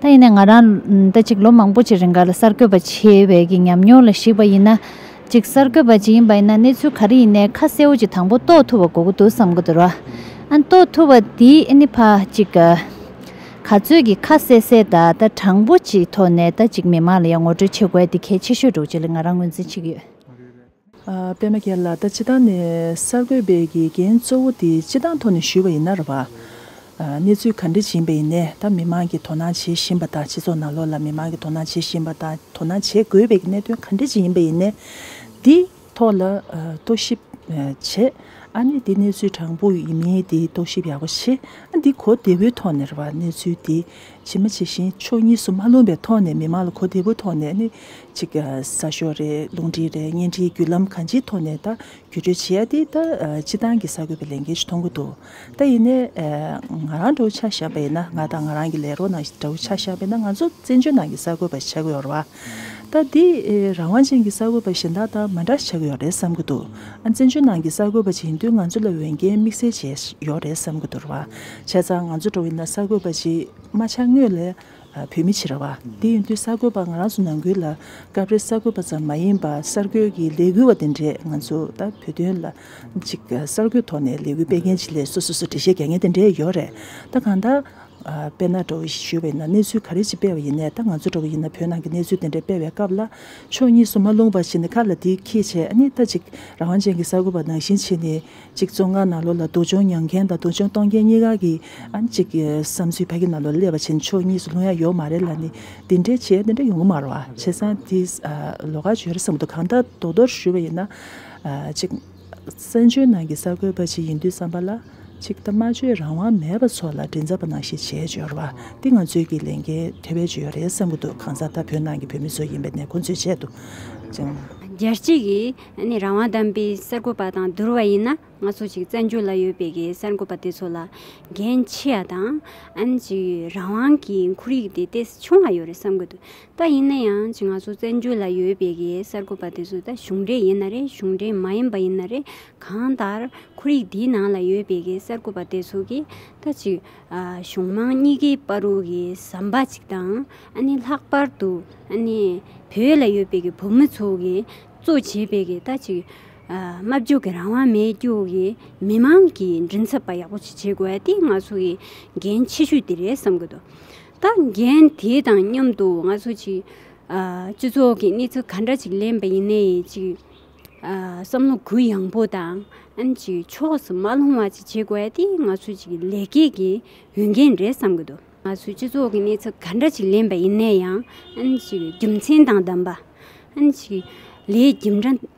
ད་ཡིན་ནས་ང་རང་ད་ཅིག་ལོ་མང་པོ་ཅིག་རིང་ག་ལ་གསར་འགོད་པ་ཆེ་བས་ཀྱི་ཉམས་མྱོང་ལ་གཞིགས་པ་ཡིན་ན། ཅིག་གསར་འགོད་པ་ཅིག་ཡིན་པ་ཡིན་ན་གནས་ཚུལ་ག་རེ་ཡིན་ནའི་ཁ་གསལ་བོ་ཅིག་དང་པོ་རྟོགས་ཐུབ་པ་དགོས་ཀྱི་འདུག་བསམ་གྱི་འདུག་རོ། ཨ་རྟོགས་ཐུབ་པ་དེ་ཨེ་ནི་ཕ་ཅིག། ག་ཚོད་ཀྱི་ཁ་གསལ་གསལ་ད་ད་དྲང་པོ་ཅིག་ཐོག་ནས་ད་ཅིག་མི་མང་ལ་ཡང་ངོ་སྤྲོད་བྱེད་དགོས་ཨ་དེ་གལ་ཆེ་ཤོས་འདུག་ཅེས་ལ་ང་རང་ངོས་འཛིན་བྱེད་ཀྱི་ཡོད། པད་མ་ཁྱེད་ལ་ད་ཅི་སྟངས་ནས་གསར་འགོད་པའི་དགེ་རྒན་གཙོ་བོ་དེ་ཅི་སྟངས་ཐོག་ནས་ཞུས་པ་ཡིན་ན་ར་བ། གནས་ཚུལ་ག་འདྲི་བྱིན་པ་ཡིན་ནས་ད་མི་མང་གི་དོ་སྣང་བྱེད་བཞིན་པ་དང་སྤྱི་ཚོགས་ནང་ལོགས་ལ་མི་མང་གི་དོ་སྣང་བྱེད་བཞིན་པ་དང་དོ་སྣང་བྱེད་དགོས་པའི་གནད་དོན་ག་འདྲི་བྱིན་ཡིན་པ་ཡིན་ནས་དེ་ཐོག་ལ་རྟོག་ཞིབ་བྱེད་ཨ་ནི་དེ་གནས་ཚུལ་དྲང་པོ་ཡིན་མིན་དེ་རྟོག་ཞིབ་ཡག་པོ་བྱེད་ཨ་འདི་གོ་བདེ་བོའི་ཐོག་ནས་ར་བ་གནས་ཚུལ་དེ། ཇི་མ་ཇི་བཞིན་ཕྱོགས་གཉིས་སུ་མ་ལྷུང་བའི་ཐོག་ནས་མི་མང་ལ་གོ་བདེ་བོའི་ཐོག་ནས་ནི་གཅིག་གསར་ཤོག་རེད་རླུང་འཕྲིན་རེད་བརྙན་འཕྲིན་བརྒྱུད་ལམ་གང་ཅིའི་ཐོག་ནས་ད་བརྒྱུད་སྤྲོད་བྱེད་ཡ་དེ་ད་སྤྱི་བཏང་གི་གསར་འགོད་པའི་ལས་འགན་ཞིག་མཐོང་གི་འདུག་ད་ཡིན་ནའི་ང་རང་དགྲ་བོ་ཆགས་བཞག་པ་ཡིན་ན་ང་དང་ང་རང་གི་ལས་རོགས་རྣམས་དགྲ་བོ་ཆགས་བཞག་པ་ཡིན་ན་ང་ཚོ་བཙན་བྱོལ་ནང་གི་གསར་འགོད་པ་བྱ་དགོས་ར་བ། ད་འདི་རང་དབང་ཅན་གྱི་གསར་འགོད་པ་གཞན་དག་དང་མ་འདྲ་ཆགས་ཀྱི་ཡོད་རེད་བསམ་གྱི་འདུག་ཨ་བཙན་བྱོལ་ནང་གི་གསར་འགོད་པ་ཅིག་ཡིན་དུས་ང་ཚོ་ལ་འོས་འགན་དམིགས་བསལ་བྱས་ཡོད་རེད་བསམ་གྱི་འདུག་བྱས་ཙང་ང་ཚོ་འགྲོ་བའི་ན་གསར་འགོད་པ་ཅིག་མ་ཆགས་དངོས་ལས་བོད་མི་ཕྱི་ར་བ་དེ་ཡིན་དུས་གསར་འགོད་པ་ང་རང་ཚོ་ནང་ཁུལ་ལ་སྐབས་རེ་གསར་འགོད་པ་ཙམ་མ་ཡིན་པར་གསར་འགོད་ཀྱི་ལས་འགུལ་བ་དེ་འདྲས་ང་ཚོ་ད་བོད་དོན་ལ་ཅིག་གསར་འགོད་ཐོག་ནས་ལས་འགུལ་སྤེལ་མཁན་ཅིག་ལས་སོ་སོ་སོ་འགྲེལ་བཤད་རྒྱག་མཁན་དེ་འདྲས་ཡོད་རེད་ད་གང་ལྟར། དཔེར་ན་འགྲོ་བའི་ཞོལ་བའི་ནང་གནས་ཚུལ་ག་རེ་ཅིག་སྤེལ་བ་ཡིན་ནས་ད་ང་ཚོ་འགྲོ་གི་ཡིན་ན་བོད་ནང་གི་གནས་ཚུལ་དེ་འདྲ་སྤེལ་བའི་སྐབས་ལ་ཕྱོགས་གཉིས་སུ་མ་ལྷུང་བ་བྱས་ནས་ཁ་ལ་དེ་ཁྱི་བྱས་ཨ་ནི་ད་ཅིག་རང་དབང་ཅན་གྱི་གསར་འགོད་པ་ནང་བཞིན་བྱས་ནས་ཅིག་བཙོང་ཁང་ནང་ལོག་ལ་སྡུག་སྦྱོང་མྱངས་མཁན་དང་སྡུག་སྦྱོང་གཏོང་མཁན་གཉིས་ཀ་གི་ཨ་ནི་ཅིག་བསམ་ཚུལ་ཕ་གི་ནང་ལོག་ལ་སླེབས་པ་བྱས་ནས་ཕྱོགས་གཉིས་སུ་ལྷུང་ཡ་ཡོད་མ་རེད་ལ་ནི་དེ་འདྲའི་བྱས་དེ་འདྲ་ཡོང་གི་མ་རོ་བྱས་ཙང་དེ་ལོ་ག་བྱོས་རེད་བསམ་མདོག་གང་ལྟར་མདོག་མདོག་ཞུས་པ་ཡིན་ན་ཅིག། བཙན་བྱོལ་ནང་གི་གསར་འགོད་པ་ཅིག་ཡིན་དུས་བསམ་པ་ལ། ཅིག་ཐ་མ་ཆོས་རང་དབང་མེད་པ་ཚོ་ལ་དྲིན་ཚབ་པ་ནང་བཞིན་བྱེད་སྦྱོར་བ་འདི་ང་ཚོས་ཀྱི་ལས་འགན་དེ་བས་ཆེ་ཡོད་རེད་བསམ་གྱི་འདུག་གང་ཟག་ད་བོད་ནང་གི་བོད་མི་ཚོ་ཡིན་པའི་ནས་ཁོང་ཚོའི་ཆེད་དུ་ཅིང། རྒྱལ་སྤྱི་གི་རང་དབང་དམ་པའི་གསར་འགོད་པ་དང་བསྡུར་བ་ཡིན་ན་ང་ཚོ་ཅིག་བཙན་བྱོལ་ལ་ཡོད་པའི་གི་གསར་འགོད་པ་དེ་ཚོ་ལ་འགན་ཆེ་ཡ་དང། ཅིག་རང་དབང་གི་འཁོར་ཡིག་དེ་དེ་ཆུང་བ་ཡོད་རེད་བསམ་གྱི་འདུག་པ་ཡིན་ན་ཡང་ང་ཚོ་བཙན་བྱོལ་ལ་ཡོད་པའི་གི་གསར་འགོད་པ་དེ་ཚོ་ད་གཞུང་འབྲེལ་ཡིན་ན་རེད་གཞུང་འབྲེལ་མ་ཡིན་པ་ཡིན་ན་རེད་གང་ལྟར་ཁོར་ཡིག་འདིའི་ནང་ལ་ཡོད་པའི་གི་གསར་འགོད་པ་དེ་ཚོ་གི་ད་ཅིག་གཞུང་མང་གཉིས་ཀའི་པར་རོ་གི་ཟམ་པ་ཅིག་དང་ཨ་ནི་ལྷག་པར་དུ་ཨ་ནི་བོད་ལ་ཡོད་པའི་གི་བོད་མི་ཚོ་གི་གཙོ་བྱས་པའི་གི་ད་ཅིག་སྨྲ་བརྗོད་གི་རང་དབང་མེད་རྒྱུ་གི་མི་མང་གི་མགྲིན་ཚབ་པ་ཡག་པོ་ཅིག་བྱེད་དགོས་ཨ་དེ་ང་ཚོ་གི་འགན་ཆེ་ཤོས་དེ་རེད་བསམ་གི་འདུག། ད་རྒན་དེ་དང་མཉམ་དུ་ང་ཚོ་གཅིག་སྤྱི་ཚོགས་ཀྱི་གནས་ཚུལ་ག་འདྲ་ཅིག་ལེན་པ་ཡིན་ནའི་ཅིག་བསམ་བློ་གུ་ཡངས་པོ་དང་ཅིག་ཕྱོགས་སུ་མ་ལྷུང་བ་ཅིག་བྱེད་དགོས་དེ་ང་ཚོ་ཅིག་ལེགས་སྐྱེས་ཀྱི་འོས་འགན་རེད་བསམ་གྱི་འདུག། ང་ཚོས་སྤྱི་ཚོགས་ཀྱི་གནས་ཚུལ་ག་འདྲ་ཅིག་ལེན་པ་ཡིན་ནའི་ཡང་ཅིག་རྒྱུ་མཚན་དང་ལྡན་པ་ཅིག་ལས་རྒྱུ་འབྲས།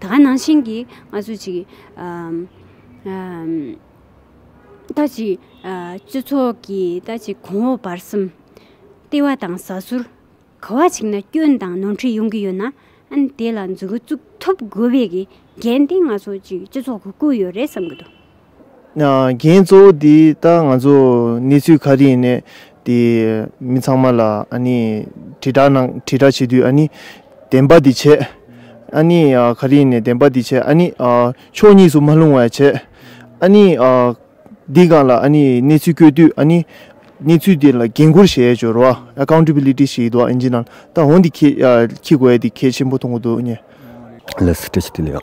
ད་ག་ནང་བཞིན་གྱི་ང་ཚོས་ཅིག་ལྟ་ཅིག་སྤྱི་ཚོགས་ཀྱི་ལྟ་ཅིག་གོང་འོག་བར་གསུམ། ལྟེ་བ་དང་ཟ་ཟུར། ག་བ་ཅིག་ན་སྐྱོན་དང་ནོར་འཁྲུལ་ཡོང་གི་ཡོད་ན། ཨན་དེ་ལ་འཛུགས་འགོ་བཙུགས་ཐུབ་དགོས་པའི་གི་འགན་དེ་ང་ཚོ་ཅིག་སྤྱི་ཚོགས་ཀྱིས་བསྐུར་ཡོད་རེད་བསམ་གི་འདུག། འགན་གཙོ་བོ་དེ་ད་ང་ཚོ་གནས་ཚུལ་ག་རེ་ཡིན་ནས་དེ་མི་ཚང་མ་ལ་ཨ་ནི་དྲིལ་བསྒྲགས་གནང་དྲིལ་བསྒྲགས་བྱེད་དུས་ཨ་ནི་བདེན་པ་དེ་བྱེད། ཨ་ནི་ག་རེ་ཡིན་ནས་བདེན་པ་དེ་བྱེད་ཨ་ནི་ཕྱོགས་གཉིས་སུ་མ་ལྷུང་བ་བྱེད། ཨ་ནི་འདི་གང་ལ་ཨ་ནི་གནས་ཚུལ་བཀོད་དུས་ཨ་ནི་གནས་ཚུལ་དེ་ལ་འགན་ཁུར་བྱེད་ཅོར་བ Accountability ཞིག་ཡོད་དོ་ཨ་ནི་ད་འོ་འདི་ཁྱི་ཁྱི་དགོས་འདི་ཁྱི་ཆེན་པོ་མཐོང་གི་འདུག་ཨ་ནི། ལས་སུ་བཀྲི་ཤིས་བདེ་ལེགས།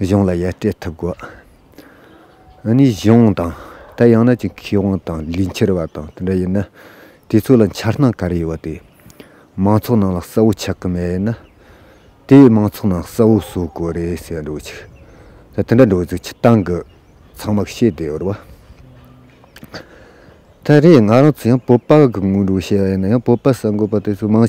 གཞུང་ལ་ཡར་སྤྲད་ཐུབ་དགོས། ཨ་ནི་གཞུང་དང་ད་ཡང་ན་ཅིག་མཁས་དབང་དང་ལས་འཁྱེར་བ་དང་དེ་འདྲ་ཡིན་ན་དེ་ཚོ་ལ་འཆར་སྣང་ག་རེ་ཡོད་དེ། མང་ཚོགས་ནང་ལ་གསལ་བོ་ཆགས་ཀྱི་མེད་ན། དེ་བས་མང་ཚོགས་ནང་གསལ་བོ་བཟོ་དགོས་རེད་ཟེར་འགྲོ་བ་ཆིག་ད་དེ་འདྲ་འགྲོ་ཚིག་ཆིག་སྟངས་གི་ཚང་མ་ཤེས་བསྡད་ཡོད་རེད་བ། ད་རེས་ང་རང་ཚོ་ཡང་བོད་པ་གི་སྔོན་འགྲོ་བཤད་ཡིན་ན་ཡང་བོད་པ་གསར་འགོད་པ་དེ་ཚོ་མང།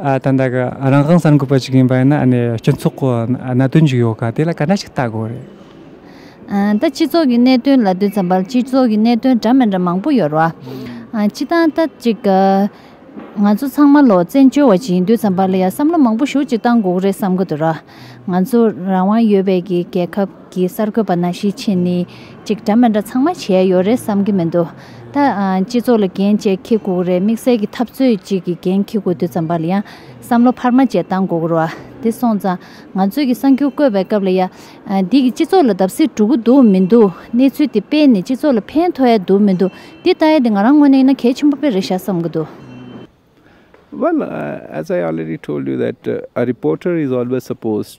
ད་ལྟ་གི་རང་དབང་གསར་འགོད་པ་ཞིག་ཡིན་པ་ཡིན་ན་སྤྱི་ཚོགས་ཀྱི་གནད་དོན་ཞིག་ཡོད་ཁ་དེ་ལ་ག་འདྲ་ཞིག་བལྟ་དགོས་རེད། ད་སྤྱི་ཚོགས་ཀྱི་གནད་དོན་ལ་ལྟོས་ཙམ་པར་སྤྱི་ཚོགས་ཀྱི་གནད་དོན་འདྲ་མི་འདྲ་མང་པོ་ཡོད་རེད། སྤྱི་དང་ད་ཅིག་ང་ཚོ་ཚང་མ་ལོག་བཙན་བྱོལ་བ་ཞིག་ཡིན་དུས་ཙམ་པར་ལ་ཡང་བསམ་བློ་མང་པོ་ཞུགས་ཅིག་བཏང་དགོས་རེད་བསམ་གྱི་འདུག་ར། ང་ཚོ་རང་དབང་ཡོད་པའི་གི་རྒྱལ་ཁབ། གི་གསར་འགོད་པ་ན་ཤི་ཆེ་ནི་ཅིག་འདྲ་མི་འདྲ་ཚང་མ་བྱས་ཡོད་རེད་བསམ་གི་མི་འདུག་ད། སྤྱི་ཚོགས་ལ་འགན་བཅས་འཁྱེར་དགོས་རེད་དམིགས་བསལ་གྱི་འཐབ་རྩོད་ཅིག་གི་འགན་འཁྱེར་དགོས་དུས་ཙམ་པར་ཡང་བསམ་བློ་འཕར་མ་བཅས་བཏང་དགོས་རུ་དེ་སོང་ཙང་ང་ཚོས་ཀྱི་གསར་འགྱུར་བཀོད་པའི་སྐབས་ལ་ཡ། འདི་གི་སྤྱི་ཚོགས་ལ་བརྡབ་གསིག་འགྲོ་གི་འདུག་མི་འདུག་གནས་ཚུལ་དེ་དཔེ་ནས་སྤྱི་ཚོགས་ལ་ཕན་ཐོགས་ཡ་འདུག་མི་འདུག་འདི་ལྟ་ཡ་དེ་ང་རང་ངོ་ནས་ཡིན་ན་གལ་ཆེན་པོ་དཔེ་རེད་ཤག་བསམ་གི་འདུག། Well, as I already told you that a reporter is always supposed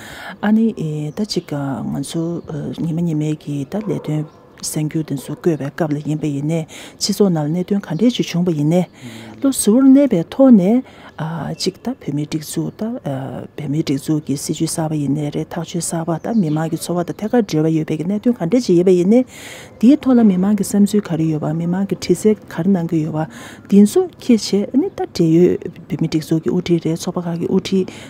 ཨཱ་ནི། ད་ཅིག་ང་ཚོ་ཉི་མ་ཉི་མའི་གི་ད་ལས་དོན་གསན་རྒྱུ་དེ་ཚོ་བསྐོས་པའི་སྐབས་ལ་ཡིན་པ་ཡིན་ནས་སྤྱི་ཚོགས་ནང་ལ་གནད་དོན་ག་འདྲའི་ཅིག་བྱུང་བ་ཡིན་ནས། བློ་གཟུ་བོར་གནས་པའི་ཐོག་ནས་ཨ་ཅིག་ད་བོད་མིའི་སྒྲིག་འཛུགས་ད་བོད་མིའི་སྒྲིག་འཛུགས་ཀྱི་སྲིད་ཇུས་གསར་བ་ཡིན་ནས་རེད་ཐག་གཅོད་གསར་བ་ད་མི་མང་གི་འཚོ་བ་དང་ཐད་ཀར་འབྲེལ་བ་ཡོད་པའི་གི་གནད་དོན་ག་འདྲའི་ཅིག་ཡིན་པ་ཡིན་ནས། དེའི་ཐོག་ལ་མི་མང་གི་བསམ་ཚུལ་ག་རེ་ཡོད་བ་མི་མང་གི་དྲི་རྩད་ག་རེ་གནང་གི་ཡོད་བ་དེ་ཚོ་ཁྱེད་བྱས་ཨ་ནི་ད་འབྲེལ་ཡོད་བོད་མིའི་སྒྲིག་འཛུགས་ཀྱི་དབུ་ཁྲིད་རེད་ཚོགས་པ་ཁག་གི་དབུ་ཁྲིད།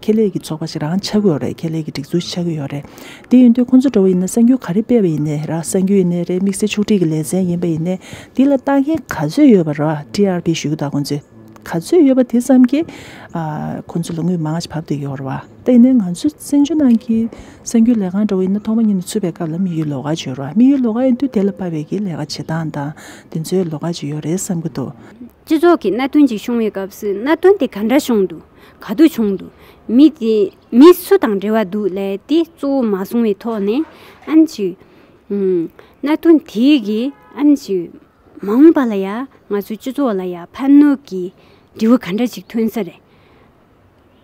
ཁེ་ལས་ཀྱི་ཚོགས་པ་ཞིག་རང་ཆགས་ཀྱི་ཡོད་རེད་ཁེ་ལས་ཀྱི་སྒྲིག་འཛུགས་ཆགས་ཀྱི་ཡོད་རེད། དེ་ཡིན་དུས་ཁོང་ཚོ་འགྲོ་བ་ཡིན་ན་གསར་འགྱུར་ག་རེ་སྤེལ་བ་ཡིན་ནའི་ར་གསར་འགྱུར་ཡིན་ནའི་རེད་དམིགས་བསལ་ཆོག་སྒྲིག་གི་ལས་ཚན་ཡིན་པ་ཡིན་ནའི་དེ་ལ་ལྟ་མཁན་ག་ཚོད་ཡོད་པ་ར TRP ཞུ་གི་དང་ཁོང་ཚོས་ག་ཚོད་ཡོད་པ་དེ་ཙམ་གྱིས་ཁོང་ཚོ་ལ་དངུལ་མང་ཞིག་བབ་འདོད་ཀྱི་ཡོད་རེད་བ། དེ་ཡིན་ནའི་ང་ཚོ་བཙན་བྱོལ་ནང་གི་གསར་འགྱུར་ལས་ཁང་འགྲོ་བ་ཡིན་ན་ཐོག་མ་ཉིད་ནས་ཚུད་པའི་སྐབས་ལ་དམིགས་ཡུལ་ལོགས་ཀ་བྱོས་རེད་བ་དམིགས་ཡུལ་ལོགས་ཀ་ཡིན་དུས་དེ་ལ་དཔའ་བའི་གི་ལས་ཀ་བྱེད་སྟངས་དང་དེ་ཚོའི་ལོགས་ཀ་ཅིག་ཡོད་རེད་བསམ་གྱི་འདུག། སྤྱི་ཚོགས་ཀྱི་གནད་དོན་ཅིག་བྱུང་བའི་སྐབས་སུ་གནད་དོན་དེ་ག་འདྲ་བྱུང་འདུག་ག་དུས་བྱུང་འདུག་མི་དེ་མི་སུ་དང་འབྲེལ་བ་འདུག་ལས་དེ་གཙོ་བོ་མ་སོང་བའི་ཐོག་ནས་ཨ་ནི་ཞུས། གནད་དོན་དེ་གིས་ཨ་ནི་ཞུས། མ་འོངས་པ་ལ་ཡང་ང་ཚོའི་སྤྱི་ཚོགས་ལ་ཡང་ཕན་གནོད་ཀྱི་འབྲས་བུ་ག་འདྲ་ཞིག་ཐོན་ས་རེད།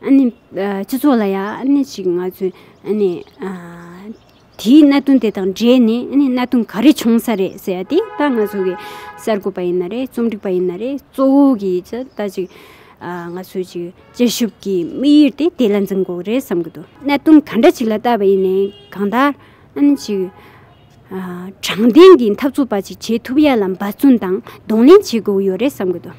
ཨ་ནི་སྤྱི་ཚོགས་ལ་ཡང་ཨ་ནི་ཞིག་ང་ཚོས་ཨ་ནི། དེའི་གནད་དོན་དེ་དང་འབྲེལ་ནས་གནད་དོན་ག་རེ་བྱུང་ས་རེད་ཟེར་ཡ་དེ་ད་ང་ཚོ་གི་གསར་འགོད་པ་ཡིན་ན་རེད་རྩོམ་སྒྲིག་པ་ཡིན་ན་རེད་གཙོ་བོ་གི་ད་ཅིག་ང་ཚོའི་ཅིག་དཔྱད་ཞིབ་ཀྱི་དམིགས་ཡུལ་དེ་དེ་ལ་འཛིན་དགོས་ཀྱི་རེད་བསམ་གྱི་འདུག་གནད་དོན་ག་འདྲ་ཅིག་ལ་བལྟ་བ་ཡིན་ནའི་གང་ལྟར་ཨ་ཅིག་དྲང་བདེན་གྱི་འཐབ་རྩོད་པ་ཅིག་བྱེད་ཐུབ་ཡ་ལ་འབད་བརྩོན་དང་གདོང་ལེན་བྱེད་དགོས་ཀྱི་ཡོད་རེད་བསམ་གྱི་འདུག།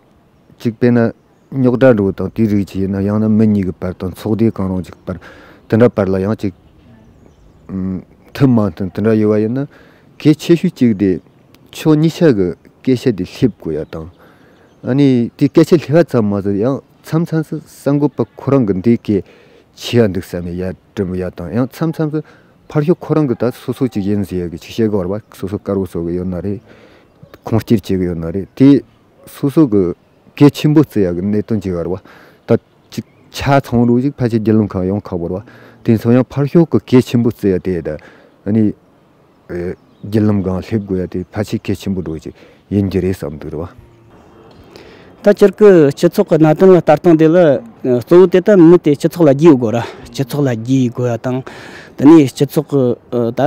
གཅིག་དཔེར་ན། རྙོག་དྲ་འགྲོ་བ་དང་དེའི་རིགས་ཀྱིས་ཡིན་ན་ཡང་ན་མི་གཉིས་ཀྱི་བར་དང་ཚོགས་སྡེ་གང་རུང་གཅིག་པར་དེ་འདྲ་བར་ལ་ཡང་གཅིག། ཐུན་མང་དུ་དེ་འདྲ་ཡོད་པ་ཡིན་ན། གལ་ཆེ་ཤོས་གཅིག་དེ་ཕྱོགས་གཉིས་ཆ་གི་སྐད་ཆ་དེ་སླེབས་དགོས་ཡ་དང། ཨ་ནི་དེ་སྐད་ཆ་སླེབས་པ་ཙམ་མ་ཟད་ཡང་མཚམས་མཚམས་སུ་གསར་འགོད་པ་ཁོ་རང་གི་འདི་སྐད་བྱས་ཡ་འདུག་བསམ་ནས་ཡར་དྲི་འབུ་ཡ་དང་ཡང་མཚམས་མཚམས་སུ་ཕར་ཞོག་ཁོ་རང་གི་ད་སོ་སོ་ཅིག་ཡིན་ཟེར་ཡ་གི་ཆིག་བཤད་གི་བར་པ་སོ་སོ་དཀར་བོ་བཟོ་གི་ཡོད་ན་རེད། ཁུངས་སྐྱེལ་བྱེད་གི་ཡོད་ན་རེད་དེ་སོ་སོ་གི་གལ་ཆེན་པོ་བརྩི་ཡ་གི་གནད་དོན་གྱི་བར་བ་ད་ཅིག་ཆ་ཚང་རུ་ཞིག་ཕལ་ཆེར་རྒྱལ་ལུང་ཁག་ཡོངས་ཁག་བར་བ་དེ་ཚོ་ཡང་ཕར་ཞོག་གི་གལ་ཆེན་པོ་བརྩི་ཡ་དེ་དང་ནི་རྒྱལ་ལམ་སྒང་སླེབས་དགོས་ཡ་དེ་ཕལ་ཆེར་གལ་ཆེན་པོ་འགྲོ་ཅིག་ཡིན་རྒྱུ་རེད་བསམ་འདུག་རེད་བ། ད་ཅིག་གི་སྤྱི་ཚོགས་ཀྱི་གནད་དོན་ལ་ལྟ་སྟངས་དེ་ལ་གཙོ་བོ་དེ་ལྟ་མི་དེ་སྤྱི་ཚོགས་ལ་རྒྱུས་ཡོད་དགོས་ར་སྤྱི་ཚོགས་ལ་རྒྱུས་ཡོད་དགོས་ཡ་དང་དེ་ནི་སྤྱི་ཚོགས་གི་ད་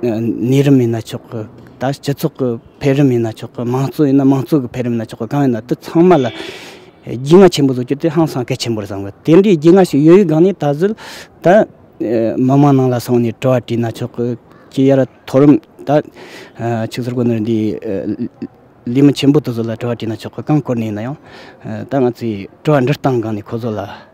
གནས་རིམ་ཡིན་ན་ཆོག་གི་ད་སྤྱི་ཚོགས་ཀྱི། འཕེལ་རིམ་ཡིན་ན་ཆོག་གི་མང་གཙོ་ཡིན་ན་མང་གཙོ་གི་འཕེལ་རིམ་ཡིན་ན་ཆོག་གི་གང་ཡིན་ན་དེ་ཚང་མ་ལ་རྒྱུས་མངའ་ཆེན་པོ་བཟོ་རྒྱུ་དེ་ཧང་སང་གལ་ཆེན་པོར་བཟང་གི་དེ་འདྲའི་རྒྱུས་མངའ་ཞིག་ཡོད་ཡོད་སྒང་ནས་ད་གཟོད་ད་མི་མང་ནང་ལ་སོང་ནས་དྲི་བ་དྲིས་ན་ཆོག་གི་ཁྱེད་ཡར་མཐོ་རིམ་ད་ཕྱུགས་ཟོག་གོ་ནོར་འདི་ལས་མི་ཆེན་པོ་དེ་ཚོ་ལ་དྲི་བ་དྲིས་ན་ཆོག་གི་གང་བཀོལ་ནས་ཡིན་ན་ཡང་ད་ང་ཚོས་དྲི་བ་འདྲི་སྟངས་སྒང་ནས་ཁོ་ཚོ་ལ་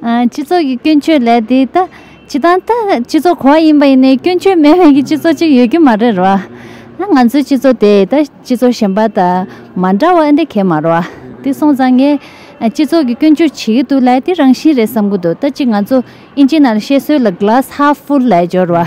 སྤྱི་ཚོགས་ཀྱི་སྐྱོན་བརྗོད་ལས་དེ་ལྟ་ཇི་ལྟར་ལྟ། སྤྱི་ཚོགས་གོ་བ་ཡིན་པ་ཡིན་ནའི་སྐྱོན་བརྗོད་མེད་མེད་ཀྱི་སྤྱི་ཚོགས་ཅིག་ཡོད་རྒྱུ་མ་རེད་རོ། ང་ཚོའི་སྤྱི་ཚོགས་དེ་ལྟ་སྤྱི་ཚོགས་གཞན་པ་དང་མ་འདྲ་བ་འདི་གལ་མ་རོ། དེ་སོང་ཙང་ངས་སྤྱི་ཚོགས་ཀྱི་སྐྱོན་བརྗོད་བྱེད་ཀྱི་འདུག་ལས་དེ་རང་བཞིན་རེད་བསམ་གྱི་འདུག་ལྟ་ཅི་ང་ཚོ་ཨིན་ཇི་ནང་ལ་བཤད་སྲོལ་ལ Glass Half Full ལས་སྦྱོར་བ།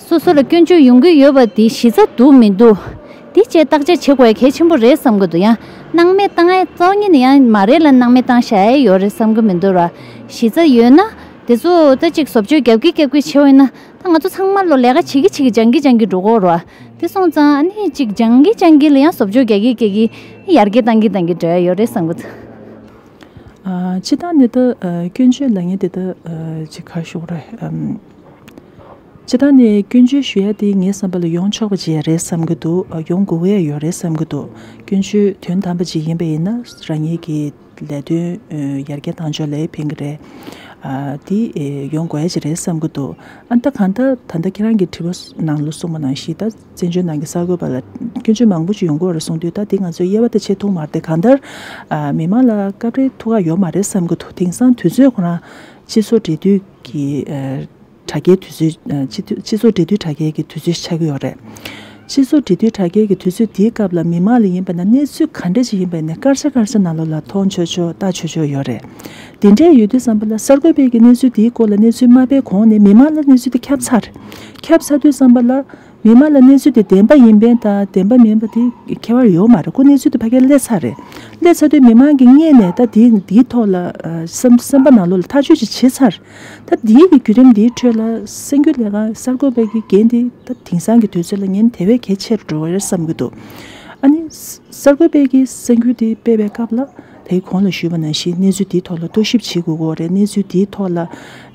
སོ་སོ་ལ་སྐྱོན་བརྗོད་ཡོང་གི་ཡོད་པ་དེ་གཞི་རྩ་འདུག་མི་འདུག་དེ་བཅས་བརྟག་དཔྱད་བྱེད་དགོས་གལ་ཆེན་པོ་རེད་བསམ་གྱི་འདུག་ཡང་སྣང་མེད་བཏང་ཨེ་རྩ་བ་ཉིད་ནས་ཡང་མ་རེད་ལ་སྣང་མེད་བཏང་བཞག་ཨེ་ཡོད་རེད་བསམ་གྱི་མི་འདུག་ར་གཞི་རྩ་ཡོད་ན་དེ་ཚོ་ད་གཅིག་བཟོ་བཅོས་རྒྱབ་ཀྱི་རྒྱབ་ཀྱི་བྱེད་འོས་ན་ད་ང་ཚོ་ཚང་མ་ལོ་ལས་ཀ་བྱེད་ཀྱི་བྱེད་ཀྱི་སྦྱང་གི་སྦྱང་གི་འགྲོ་གོ་ར་དེ་སོང་ཙང་ཨ་ནི་གཅིག་སྦྱང་གི་སྦྱང་གི་ལ་ཡང་བཟོ་བཅོས་རྒྱག་གི་རྒྱག་གི་ཡར་རྒྱས་བཏང་གི་བཏང་གི་འགྲོ་ཨེ་ཡོད་རེད་བསམ་གྱི་འདུག། ཕྱི་ལྟར་འདི་ལྟར་སྐྱོན་བརྗོད་ལ་ངས་འདི་ལྟར་བྱེད་ཁ་ཤོག་རེད། སྤྱི་བཏང་ནས་སྐྱོན་བརྗོད་ཞུ་ཡ་འདི་ངའི་བསམ་པ་ལ་ཡོང་ཆོག་པ་བཅས་རེད་བསམ་གྱི་འདུག་ཡོང་དགོས་ཡས་ཡོད་རེད་བསམ་གྱི་འདུག་སྐྱོན་བརྗོད་དོན་དམ་པ་ཅིག་ཡིན་པ་ཡིན་ན་རང་ཉིད་ཀྱི་ལས་དོན་ཡར་རྒྱས་བཏང་ཆོག་ལས་ཕན་གྱི་རེད། འདི་ཡོང་དགོས་ཡས་ཅིག་རེད་བསམ་གྱི་འདུག་ཨ་མདའ་གང་ལྟར་ད་ལྟ་ཁྱེད་རང་གི་དྲི་བ་ནང་ལ་གསུངས་པ་ནང་བཞིན་ད་བཙན་བྱོལ་ནང་གི་གསར་འགོད་པ་ལ་སྐྱོན་བརྗོད་མང་པོ་ཅིག་ཡོང་དགོས་རེད་གསུངས་དུས་ད་འདི་ང་ཚོའི་དབྱེ་བ་ད་ཆེས་ཐུང་མ་རེད་གང་ལྟར་མི་མང་ལ་སྐབས་རེ་ཐུགས་ཁག་ཡོག་མ་རེད་བསམ་གྱི་འདུག་དེང་སང་དུས་ཚོད་ཁོ་རང་སྤྱི་ཚོགས་འབྲེལ་མཐུད་ཀྱི་དྲ་རྒྱའི་དུས་ཚོད། སྤྱི་ཚོགས་འབྲེལ་མཐུད་དྲ་རྒྱའི་གི་དུས་ཚོད་ཆགས་ཀྱི་ཡོད་རེད། སྤྱི་ཚོགས་འབྲེལ་མཐུད་དྲ་རྒྱའི་གི་དུས་ཚོད་དེའི་སྐབས་ལ་མི་མང་ལ་ཡིན་པ་ན་གནས་ཚུལ་ག་འདྲ་ཞིག་ཡིན་པའི་ནས་སྐར་ཆ་སྐར་ཆ་ན་ལོ་ལ་མཐོང་ཆོག་ཆོག་ལྟ་ཆོག་ཆོག་ཡོད་རེད། དེ་འདྲའི་ཡོད་དུས་བསམ་པ་ལ་གསར་འགོད་པས་གི་གནས་ཚུལ་དེའི་སྐོར་ལ་གནས་ཚུལ་མ་སྤེལ་གོང་ནས་མི་མང་ལ་གནས་ཚུལ་དེ་ཁྱབ་ཚར། ཁྱབ་ཚར་དུས་བསམ་པ་ལ། མི་མང་ལ་གནས་ཚུལ་དེ་བདེན་པ་ཡིན་པན་དང་བདེན་པ་མིན་པ་དེ་ཁྱད་པར་ཡོད་མ་རེད་ཁོ་གནས་ཚུལ་དེ་ཕ་གིར་སླེ་ཚར་རེད། སླེ་ཚར་དུས་མི་མང་གི་མངལ་ནས་ད་དེའི་དེའི་ཐོག་ལ་སེམས་སེམས་པ་ན་ལོ་ལ་ཐག་གཅོད་ཅིག་བྱེད་ཚར། ད་ལྟའི་བརྒྱུད་རིམ་འདིའི་ཁྲོད་ལ་སེམས་རྒྱུད་ལས་ཀ་གསར་འགོད་པའི་དགེ་རྒན་དེ་ད་དེང་སང་གི་དུས་ཚོད་ལ་ཉན་དེ་བས་གལ་ཆེ་རུ་འགྲོ་བ་རེད་བསམ་གྱི་འདུག་ཨ་ནི། གསར་འགོད་པས་གི་སེམས་རྒྱུད་དེ་སྤེལ་བའི་སྐབས་ལ་དེའི་གོང་ལ་ཞུས་པ་ནང་བཞིན་གནས་ཚུལ་དེའི་ཐོག་ལ་རྟོག་ཞིབ་བྱེད་དགོས་འོག་རེད་གནས་ཚུལ་དེའི་ཐོག་ལ་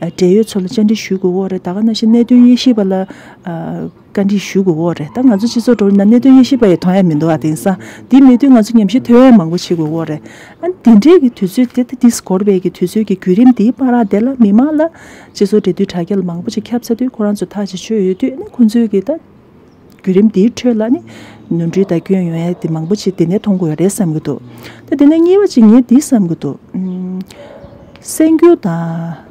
འབྲེལ་ཡོད་ཚོ་ལ་བཅར་འདྲི་ཞུས་དགོས་འོག་རེད་ད་ག་ནང་བཞིན་གནད་དོན་དབྱེ་ཞིབ་པ་ལ། བཀའ་འདྲི་ཞུ་དགོས་འོག་རེད་ད་ང་ཚོ་སྤྱི་ཚོགས་དྲོ་ན་གནད་དོན་དབྱེ་ཞིབ་པ་ཡི་དོན་ཡ་མི་འདུག་ཨ་དེང་སང་འདི་མེད་དུས་ང་ཚོ་ཉམས་ཞིབ་དོན་ཡ་མང་པོ་བྱེད་དགོས་འོག་རེད་ཨ་འདི་འདྲའི་གི་དུས་ཚོད་དེ་ད་འདི་སྒོར་བས་གི་དུས་ཚོད་གི་བརྒྱུད་རིམ་འདིའི་པར་ར་དེ་ལ་མི་མང་ལ་སྤྱི་ཚོགས་འབྲེལ་མཐུད་དྲ་རྒྱལ་མང་པོ་ཅིག་ཁྱབ་ཚ་དུས་ཁོ་རང་ཚོ་ཐག་ཅིག་ཆོད་ཡོད་དུས་ཨ་ནི་ཁོང་ཚོའི་གི་ད་བརྒྱུད་རིམ་འདིའི་ཁྲོད་ལ་ནི་ནོར་འཁྲུལ་དང་སྐྱོན་ཡོན་ཡ་དེ་མང་པོ་ཅིག་དེ་ནས་མཐོང་དགོས་ཡ་རེད་བསམ་གི་འདུག་ད་དེ་ནས་གཉིས་པ་ཅིག་ངས་འདི་བསམ་གི་འདུག་སེམས་རྒྱུད་དང།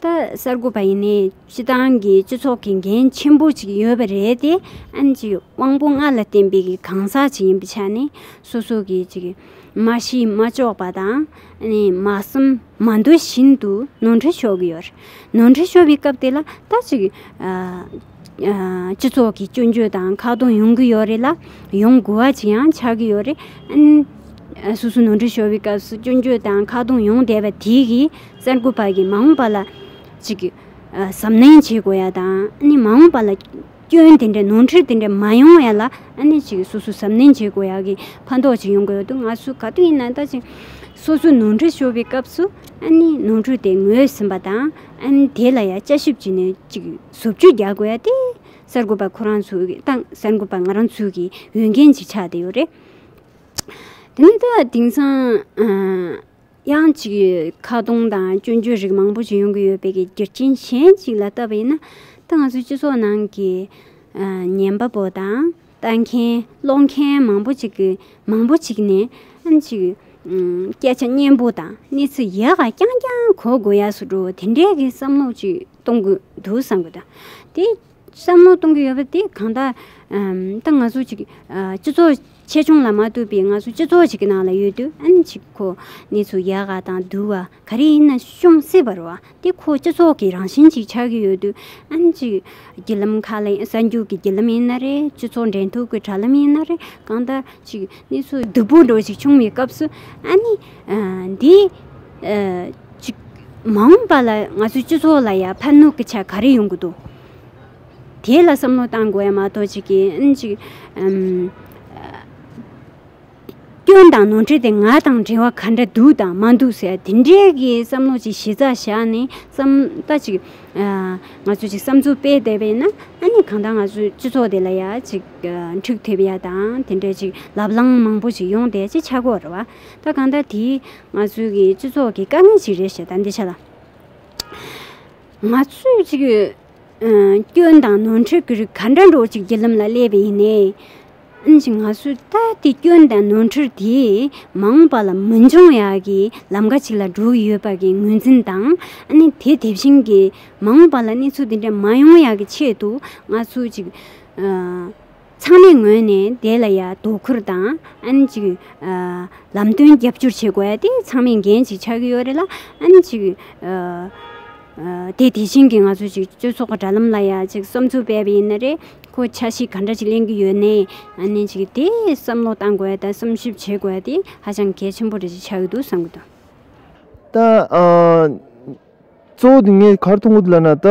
ད་གསར་འགོད་པ་ཡིན་ནའི་སྤྱི་བཏང་གི་སྤྱི་ཚོགས་ཀྱི་འགན་ཆེན་པོ་ཅིག་ཡོད་པ་རེད་དེ། ཨན་གྱི་དབང་པོ་ལྔ་ལ་བརྟེན་པའི་གི་གང་ཟག་ཅིག་ཡིན་པའི་ཆ་ནས་སོ་སོ་གི་ཅིག་མ་གཞི་མ་ལྕོགས་པ་དང། མ་གསུམ་མ་འདོད་བཞིན་དུ་ནོར་འཁྲུལ་ཤོར་གི་ཡོད་རེད། ནོར་འཁྲུལ་ཤོར་བའི་སྐབས་དེ་ལ་ད་ཅིག་སྤྱི་ཚོགས་ཀྱི་སྐྱོན་བརྗོད་དང་ཁག་སྟོང་ཡོང་གི་ཡོད་རེད་ལ། ཡོང་དགོས་བ་ཅིག་ཡང་ཆགས་ཀྱི་ཡོད་རེད། ཨན། སོ་སོ་ནོར་འཁྲུལ་ཤོར་བའི་སྐབས་སུ་སྐྱོན་བརྗོད་དང་ཁག་སྟོང་ཡོང་བསྡད་པ་དེ་གིས། གསར་འགོད་པ་གིས་མ་འོངས་པ་ལ་ཅིག་གཟབ་ནན་བྱེད་དགོས་ཡ་དང། མ་འོངས་པ་ལ་སྐྱོན་དེ་འདྲ་ནོར་འཁྲུལ་དེ་འདྲ་མ་ཡོང་ཡ་ལ་ཅིག་སོ་སོ་གཟབ་ནན་བྱེད་དགོས་ཡ་གི་ཕན་ཐོགས་ཅིག་ཡོང་གི་ཡོད་འདུག་ང་ཚོས་ག་དུས་ཡིན་ན་ད་ཅིག་སོ་སོའི་ནོར་འཁྲུལ་ཤོར་བའི་སྐབས་སུ་ནོར་འཁྲུལ་དེ་ངོས་ཟིན་པ་དང། དེ་ལ་ཡ་དཔྱད་ཞིབ་བྱེད་ནས་ཅིག་ཟུར་བཅོས་རྒྱག་དགོས་ཡ་སྟེ། གསར་འགོད་པ་ཁོ་རང་ཚོའི་ཏང་གསར་འགོད་པ་ང་རང་ཚོའི་གི་འོས་འགན་ཅིག་ཆགས་བསྡད་ཡོད་རེད། དེ་ནས་ད་དེང་སང། དབྱང་གཅིག་ཡོད་ཁ་སྟོང་དང་སྐྱོན་བརྗོད་རིགས་མང་པོ་ཅི་ཡོང་གི་ཡོད་པའི་རྒྱུ་རྐྱེན་གཞན་གཅིག་ལ་བལྟ་བ་ཡིན་ན། ད་ང་ཚོའི་སྤྱི་ཚོགས་ནང་གི་ཉན་པ་པོ་དང་ལྟ་མཁན་ཀློག་མཁན་མང་པོ་ཅིག་གིས་མང་པོ་ཅིག་ནས་ཨང་གཅིག་སྐད་ཆ་སྙན་པོ་དང་གནས་ཚུལ་ཡག་ག་རྐྱང་རྐྱང་གོ་དགོས་ཡག་སུ་འགྲོ་དེ་འདྲའི་གི་བསམ་བློ་ཅིག་གཏོང་དགོས་འདུག་བསམ་གི་འདུག་དེ། བསམ་བློ་གཏོང་གི་ཡོད་པ་དེ་གང་དག་ད་ང་ཚོ་ཅིག་སྤྱི་ཚོགས་ཆེ་ཆུང་ལ་མ་ལྟོས་པའི་ང་ཚོ་སྤྱི་ཚོགས་ཅིག་གི་ནང་ལ་ཡོད་དུས་ཨ་ནི་ཅིག་ཁོ་ནི་ཚོ་ཡལ་ག་དང་དུལ་བ་ག་རེ་ཡིན་ན་ཤོང་སྲིད་པར་བ་དེ་ཁོ་སྤྱི་ཚོགས་ཀྱི་རང་བཞིན་ཅིག་ཆགས་ཀྱི་ཡོད་དུས་ཨ་ནི་ཅིག་བརྒྱུད་ལམ་ཁ་ལ་གསར་འགྱུར་གྱི་བརྒྱུད་ལམ་ཡིན་ན་རེད་སྤྱི་ཚོགས་འབྲེལ་མཐུད་ཀྱི་དྲ་ལམ་ཡིན་ན་རེད་གང་དག་ཅིག་ནི་ཚོ་བདུད་པོ་འགྲོ་ཞིག་བྱུང་བའི་སྐབས་སུ་ཨ་ནི། འདི། ཅིག། མ་འོངས་པ་ལ་ང་ཚོའི་སྤྱི་ཚོགས་ལ་ཡང་ཕན་གནོད་ཀྱི་ཆ་ག་རེ་ཡོང་གི་འདུག་དེ་ལ་བསམ་བློ་གཏང་དགོས་ཡ་མ་གཏོགས་ཅིག་གིས། ཅིག། སྐྱོན་དང་ནོར་འཁྲུལ་དེ་ང་དང་འབྲེལ་བ་ག་འདྲ་འདུག་དང་མ་འདུག་ཟེར་དེ་འདྲའི་གི་བསམ་བློ་ཅིག་གཞི་རྩ་བཞག་ནས་བསམ་ད་ཅིག། ང་ཚོ་ཅིག་བསམ་ཚུལ་སྤེལ་བསྡད་པས་ན་ཨ་ནི་གང་ལྟར་ང་ཚོའི་སྤྱི་ཚོགས་དེ་ལ་ཡང་ཅིག་འཕྲུག་ཐེབས་ཡ་དང་དེ་འདྲའི་ཅིག་ལབ་ལངས་མང་པོ་ཅིག་ཡོང་བསྡད་ཅེས་ཆག་གོ་ར་བ། ད་གང་ལྟར་དེ་ང་ཚོའི་གི་སྤྱི་ཚོགས་ཀྱི་དཀའ་ངལ་ཞིག་རེད་ཞེས་ད་འདི་བྱ་ལ། ང་ཚོས་ཅིག་སྐྱོན་དང་ནོར་འཁྲུལ་གྱི་རིགས་ག་འདྲ་འགྲོ་ཅིག་བརྒྱུད་ལམ་ལ་སླེབས་པས་ཡིན། ཨིན་ཞིག་ང་ཚོས་ད་དེ་སྐྱོན་དང་ནོར་འཁྲུལ་དེ་མ་འོངས་པ་ལ་མི་འབྱུང་ཡག་གི་ལམ་ཁ་ཅིག་ལ་འགྲོ་གི་ཡོད་པ་གི་ངོས་འཛིན་དང་ཨནི་དེ་དེ་བཞིན་གི་མ་འོངས་པ་ལ་གནས་ཚུལ་དེ་འདྲ་མ་ཡོང་ཡག་གི་ཆེད་དུ་ང་ཚོས་ཅིག། ཚང་མས་ངོས་ནས་དེ་ལ་ཡ་དོ་ཁུར་དང་ཨན་ཅིག་ལམ་སྟོན་རྒྱབ་སྐྱོར་བྱེད་དགོས་ཏེ་ཚང་མས་འགན་ཅིག་ཆགས་ཀྱི་ཡོད་རེད་ལ་ཨན་ཅིག་དེ་དེ་བཞིན་གྱི་ང་ཚོ་ཅིག་སྤྱོད་ཚོགས་ཀྱི་དྲ་ལམ་ལ་ཡ་ཅིག་བསམ་ཚུལ་སྤེལ་བ་ཡིན་ན་རེད་ཁོ་ཆ་ཤིག་ག་འདྲ་ཅིག་གླེང་གི་ཡོད་ནའི་ཨན་ཅིག་དེ་བསམ་བློ་བཏང་དགོས་དང་བསམ་ཞིབ་བྱེད་དགོས་ཏེ་ཧ་ཅང་གལ་ཆེན་པོ་རེད་ཅིག་ཆགས་ཀྱི་འདུག་བསམ་གྱི་འདུག། ད། གཙོ་བོ་དེ་ངས་གར་མཐོང་གོ་དེ་ལ་ན་ད།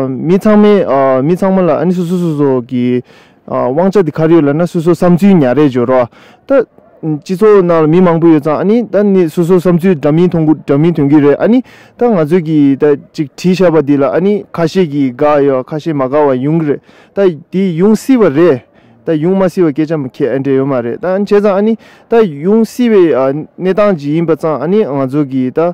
མི་ཚང་མས་མི་ཚང་མ་ལ་ཨ་ནི་སོ་སོ་སོ་སོ་གི། དབང་ཆ་དེ་གར་ཡོད་ལ་ན་སོ་སོ་བསམ་ཚུལ་ཉག་རེ་སྦྱོར་རོགས། ད། སྤྱི་ཚོགས་ནང་ལ་མི་མང་པོ་ཡོད་ཙང་ཨ་ནི་ད་ནི་སོ་སོ་བསམ་ཚུལ་འདྲ་མིན་ཐོང་འདྲ་མིན་དོན་གྱི་རེད་ཨ་ནི། ད་ང་ཚོས་ཀྱི་ད་ཅིག་བྲིས་བཞག་པ་དེ་ལ་ཨ་ནི་ཁ་ཤས་ཀྱིས་དགའ་ཡོད་ཨ་ཁ་ཤས་མ་དགའ་བ་ཡོང་གི་རེད། ད་དེ་ཡོང་སྲིད་པ་རེད། ད་ཡོང་མ་སྲིད་པ་སྐད་ཆ་མི་ཁྱད་འབྲེལ་ཡོད་མ་རེད། ད་བྱས་ཙང་ཨ་ནི་ད་ཡོང་སྲིད་པའི་གནས་སྟངས་ཅིག་ཡིན་པ་ཙང་ཨ་ནི་ང་ཚོ་གི་ད།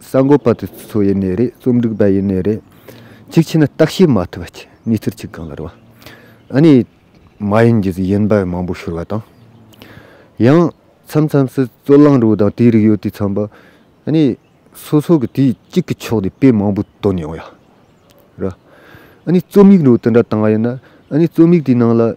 གསར་འགོད་པ་དེ་ཚོ་ཡེ་ནས་རེད་རྩོམ་སྒྲིག་པ་ཡེ་ནས་རེད། གཅིག་བྱས་ན་བརྟག་དཔྱད་མ་ཐུབ་པ་གཅིག་གནས་ཚུལ་གཅིག་གང་ལ་རེ་བ། ཨ་ནི། མ་ཡིན་གྱི་ཡིན་པ་མང་པོ་ཤོར་བ་དང། ཡང། མཚམས་མཚམས་སུ་རྩོད་གླེང་རིགས་དང་དེའི་རིགས་ཡོད་དུས་ཚངས་པ། ཨ་ནི། སོ་སོ་གི་དུས་གཅིག་གི་ཕྱོགས་དེ་དཔེ་མང་པོ་བཏོན་ཡོང་ཡ་རེད། ཨ་ནི་རྩོམ་ཡིག་རུ་དེ་འདྲ་བཏང་བ་ཡིན་ན་ཨ་ནི་རྩོམ་ཡིག་དེའི་ནང་ལ།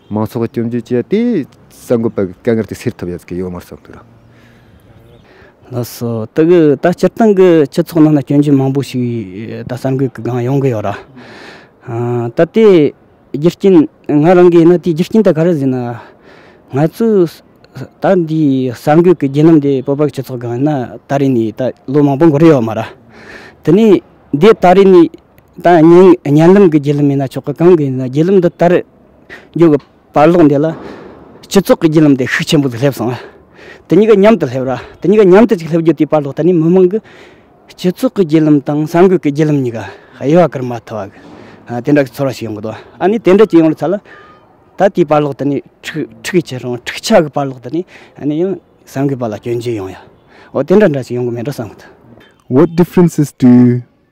མང་ཚོགས་ཀྱི་སྐྱོན་བརྗོད་བྱས་ཏེ་གསར་འགོད་པ་གི་དཀའ་ངལ་དེ་སེལ་ཐུབ་ཡོད་ཀྱི་ཡོད་མ་རེད་བསམ་ལ་སོ། དེ་གི་ད་སྤྱིར་བཏང་གི་སྤྱི་ཚོགས་ནང་ན་སྐྱོན་བརྗོད་མང་པོ་ཞིག་ད་གསར་འགོད་ཀྱི་སྒང་ཡོང་གི་ཡོད་ར། ད་དེ་རྒྱུ་རྐྱེན་ང་རང་གིས་ན་དེའི་རྒྱུ་རྐྱེན་དེ་ག་རེ་ཟེར་ན། ང་ཚོས་ད་འདིའི་གསར་འགོད་ཀྱི་བརྒྱུད་ལམ་དེ་བོད་པ་སྤྱི་ཚོགས་སྒང་ན་ད་རེས་ནས་ད་ལོ་མང་པོ་འགོར་ཡོད་མ་ར། དེ་ནས་འདི་ད་རེས་ནས་ད་བརྙན་བརྙན་ལམ་གྱི་བརྒྱུད་ལམ་ཡིན་ན་ཆོག་གི་གང་གི་ཡིན་ན་བརྒྱུད་ལམ་འདི་ད་རེས། འགྱུར་གྱི་བར་ཀློག་འདི་ལ། སྤྱི་ཚོགས་ཀྱི་བརྒྱུད་ལམ་དེ་ཤུགས་ཆེན་པོ་ཟིག་སླེབས་སོང་བ། དེ་གཉིས་ཀ་མཉམ་དུ་སླེབས་ར་དེ་གཉིས་ཀ་མཉམ་དུ་ཅིག་སླེབས་རྒྱུ་དེའི་བར་ལོ་ད་ནི་མི་མང་གི། སྤྱི་ཚོགས་ཀྱི་བརྒྱུད་ལམ་དང་གསར་འགོད་ཀྱི་བརྒྱུད་ལམ་གཉིས་ཀ་དབྱེ་བ་ཀིར་མ་ཐོ་བ། དེ་འདྲ་གི་ཚོར་བ་ཞིག་ཡོང་གི་འདུག་ཨ་ནི་དེ་འདྲ་ཅིག་ཡོང་ལ་ཚར་ལ། ད་དེའི་བར་ཀློག་ད་ནི་འཕྲུག་གིས་ཆེ་སོང་འཕྲུག་ཆགས་ཀྱི་བར་ཀློག་ད་ནི་ཨ་ནི་ཡང་གསར་འགོད་པ་ལ་སྐྱོན་བརྗོད་ཡོང་ཡ། འོ་དེ་འདྲ་འདྲ་ཅིག་ཡོང་གི་མེད་འགྲོ་བསམ་གི་འདུག། Word Differences དུས